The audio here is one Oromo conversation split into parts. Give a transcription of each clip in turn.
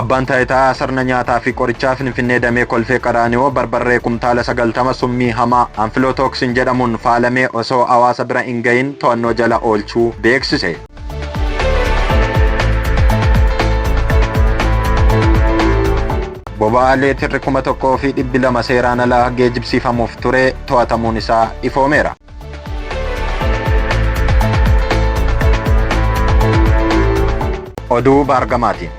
Abbaan Taayitaa Sirna Nyaataa fi Qorichaa Finfinnee Damee Kolfee Qaraaniyoo barbarree kumtaala 90 summii hamaa anfilootooksin jedhamuun faalamee osoo hawaasa bira hin gahin to'annoo jala oolchuu beeksise. Boba'aa leetirri 1200 seeraan alaa geejibsiifamuuf ture to'atamuun isaa ifoomeera. Oduu baargamaatiin.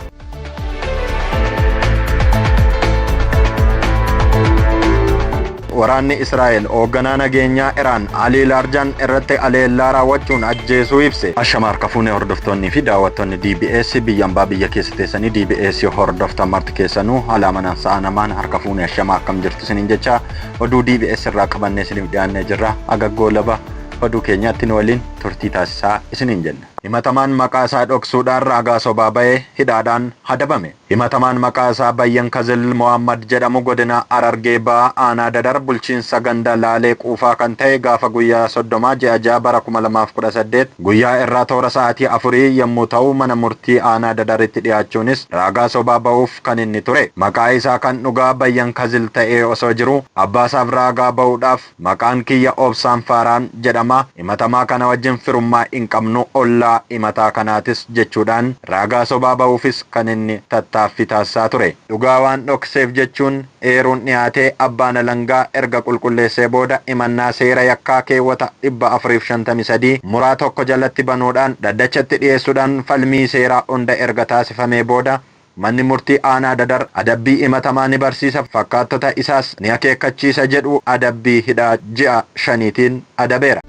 Waraanni Israa'el hoogganaa nageenyaa Iraan Alii Laarjaan irratti aleellaa raawwachuun ajjeesuu ibse. Ashama harka fuunee hordoftoonnii fi daawwattoonni DBS biyya ambaa biyya keessa teessanii DBS hordoftan marti keessanuu haala amanaan sa'a namaan harka fuunee ashama akkam jirtu isiniin jechaa oduu DBS irraa qabannee isiniif dhiyaannee jirra. Haga goolaba oduu keenyaatti nu waliin turtii taasisaa isiniin jenna. Himatamaan maqaa isaa dhoksuudhaan raagaa sobaa bahe hidhaadhaan hadabame. Himatamaan maqaa isaa Bayyan Kazil Mohammad jedhamu godina Harargee Bahaa aanaa Dadar bulchiinsa ganda Laalee Quufaa kan tahe gaafa guyyaa 30 ji'a 6 bara 2018 Guyyaa irraa toora sa'aatii afurii yommuu ta'u mana murtii aanaa Dadaritti dhiyaachuunis raagaa sobaa ba'uuf kan inni ture maqaa isaa kan dhugaa Bayyan Kazil ta'ee osoo jiruu abbaasaaf raagaa ba'uudhaaf maqaan kiyya Obsaan Faaraan jedhama himatamaa kana wajjin firummaa hin qabnu ollaa himataa kanaatis jechuudhaan raagaa sobaa ba'uufis kan inni tattaaffii taasisaa ture dhugaa waan dhokseef jechuun eeruun dhiyaate abbaan alangaa erga qulqulleessee booda himannaa seera yakkaa keewwata 453 muraa 1 jalatti banuudhaan dhaddachatti dhiyeessudhaan falmii seeraa hunda erga taasifamee booda manni murtii aanaa Dadar adabbii himatamaa ni barsiisa fakkaattota isaas ni akeekkachiisa jedhu adabbii hidhaa ji'a shaniitiin adabeera.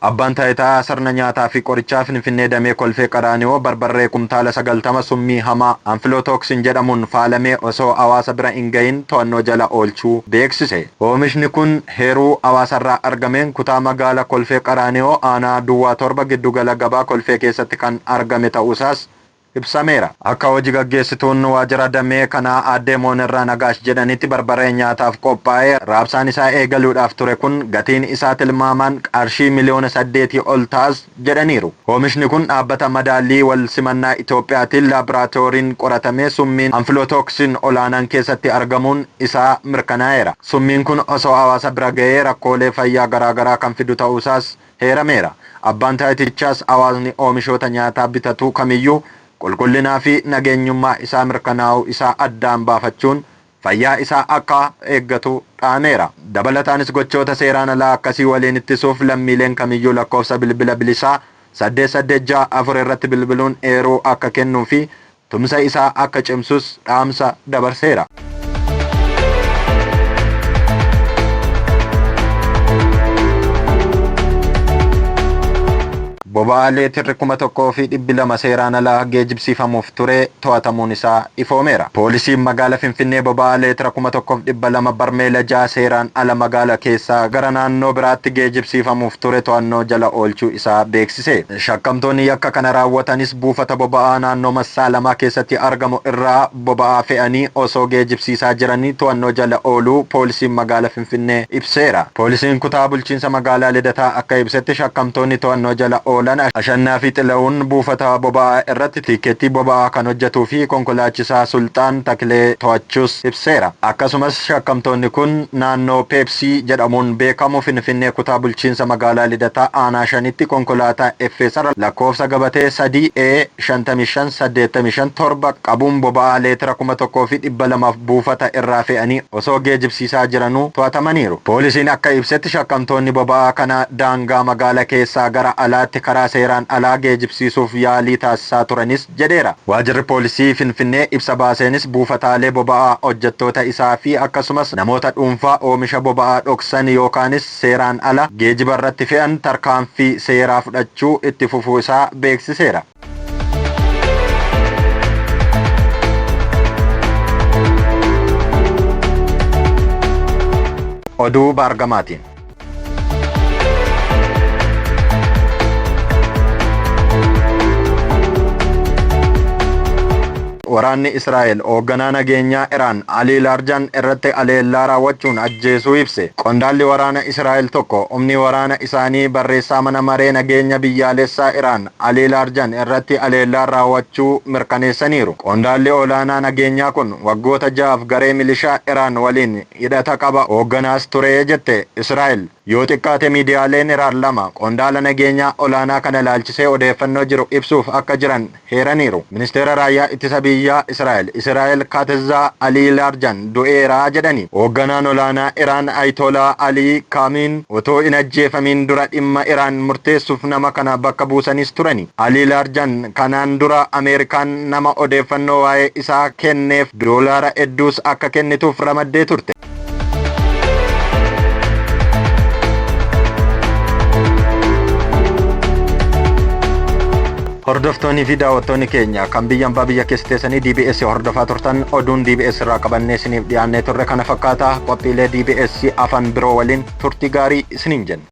Abbaan Taayitaa Sirna Nyaataa fi Qorichaa Finfinnee Damee Kolfee Qaraaniyoo barbarree kumtaala 90 summii hamaa Anfilootooksin jedhamuun faalamee osoo hawaasa bira hin gahiin to'annoo jala oolchuu beeksise. Oomishni kun heeruu hawaasarraa argameen kutaa magaala Kolfee Qaraaniyoo aanaa Duwwaa 7 giddu gala gabaa Kolfee keessatti kan argame ta'uusaas ibsameera. Akka hoji gaggeessituun waajira damee kanaa Aaddee Moonirraa Nagaash jedhanitti barbareen nyaataaf qophaa'ee raabsaan isaa eegaluudhaaf ture kun gatiin isaa tilmaamaan qarshii miliyoona saddeetii ol ta'as jedhaniiru. Oomishni kun dhaabbata madaallii wal simannaa Itoophiyaatiin laabraatooriin qoratamee summiin Anfilootooksin olaanaan keessatti argamuun isaa mirkanaa'eera. Summiin kun osoo hawaasa bira ga'ee rakkoolee fayyaa garaagaraa kan fidu ta'uusaas heerameera. Abbaan Taayitichaas hawaasni oomishoota nyaataa bitatu kamiyyuu qulqullinaa fi nageenyummaa isaa mirkanaa'uu isaa addaan baafachuun fayyaa isaa akka eeggatu dhaameera. Dabalataanis gochoota seeraan alaa akkasii waliin ittisuuf lammiileen kamiyyuu lakkoofsa bilbila bilisaa 886 4 irratti bilbiluun eeruu akka kennuu fi tumsa isaa akka cimsus dhaamsa dabarseera. Boba'aa leetirri 1200 seeraan ala geejibsiifamuuf ture to'atamuun isaa ifoomeera. Poolisiin magaala Finfinnee boba'aa leetira 1200 barmeela 6 seeraan ala magaala keessaa gara naannoo biraatti geejibsiifamuuf ture to'annoo jala oolchuu isaa beeksiseera. beeksise. Shakkamtoonni yakka kana raawwatanis buufata boba'aa naannoo Massaalamaa keessatti argamu irraa boba'aa fe'anii osoo geejibsiisaa jiranii to'annoo jala ooluu poolisiin magaala Finfinnee ibseera. Poolisiin kutaa bulchiinsa magaalaa Lidataa akka ibsetti shakkamtoonni to'annoo jala oolan Ashannaafi Xilahun buufata boba'aa irratti tiikkeettii boba'aa kan hojjetuu fi konkolaachisaa Sulxaan Taklee to'achuus ibseera. Akkasumas shakkamtoonni kun naannoo C jedhamuun beekamu Finfinnee Kutaa Bulchiinsa Magaalaa Lidataa Aanaa 5tti konkolaataa FSR lakkoofsa gabatee 3 E 55 85 7 qabuun boba'aa leetira 1200f buufata irraa fe'anii osoo geejibsiisaa jiranuu to'atamaniiru. Poolisiin akka ibsetti shakkamtoonni boba'aa kana daangaa magaala keessaa gara alaatti karaa seeraan alaa geejibsiisuuf yaalii taasisaa turanis, jedheera. Waajirri Poolisii Finfinnee ibsa baaseenis buufataalee boba'aa, hojjettoota isaa fi akkasumas namoota dhuunfaa oomisha boba'aa dhoksan yookaanis seeraan ala geejiba irratti fe'an tarkaanfii seeraa fudhachuu itti fufuu isaa beeksiseera. Oduu Baargamaatiin. Waraanni Israa'el hoogganaa nageenyaa Iraan Alii Laarjaan irratti aleellaa raawwachuun ajjeesuu ibse. Qondaalli waraana Israa'el tokko humni waraana isaanii barreessaa mana maree nageenya biyyaalessaa Iraan Alii Laarjaan irratti aleellaa raawwachuu mirkaneessaniiru. Qondaalli olaanaa nageenyaa kun waggoota ja'aaf garee milishaa Iraan waliin hidhata qaba, hoogganaas ture jette Israa'el. Yoo xiqqaate miidiyaaleen Iraan lama qondaala nageenyaa olaanaa kana ilaalchisee odeeffannoo jiru ibsuuf akka jiran heeraniiru. Ministeera Raayyaa Ittisa Biyyaa Israa'el Israa'el Kaatzza Alii Laarjan du'eera jedhani. Hoogganaan olaanaa Iraan Aytolaa Alii Kaamiin otoo hin ajjeefamiin dura dhimma Iraan murteessuuf nama kana bakka buusanis turani. Alii Laarjan kanaan dura Ameerikaan nama odeeffannoo waa'ee isaa kenneef doolaara hedduus akka kennituuf ramaddee turte. Hordoftoonnii fi daawwattoonni keenya kan biyya ambaa biyya keessa teessanii DBS hordofaa turtan oduun DBS irraa qabannee isiniif dhiyaannee turre kana fakkaata qophiilee DBS afaan biroo waliin turtii gaarii isiniin jenna.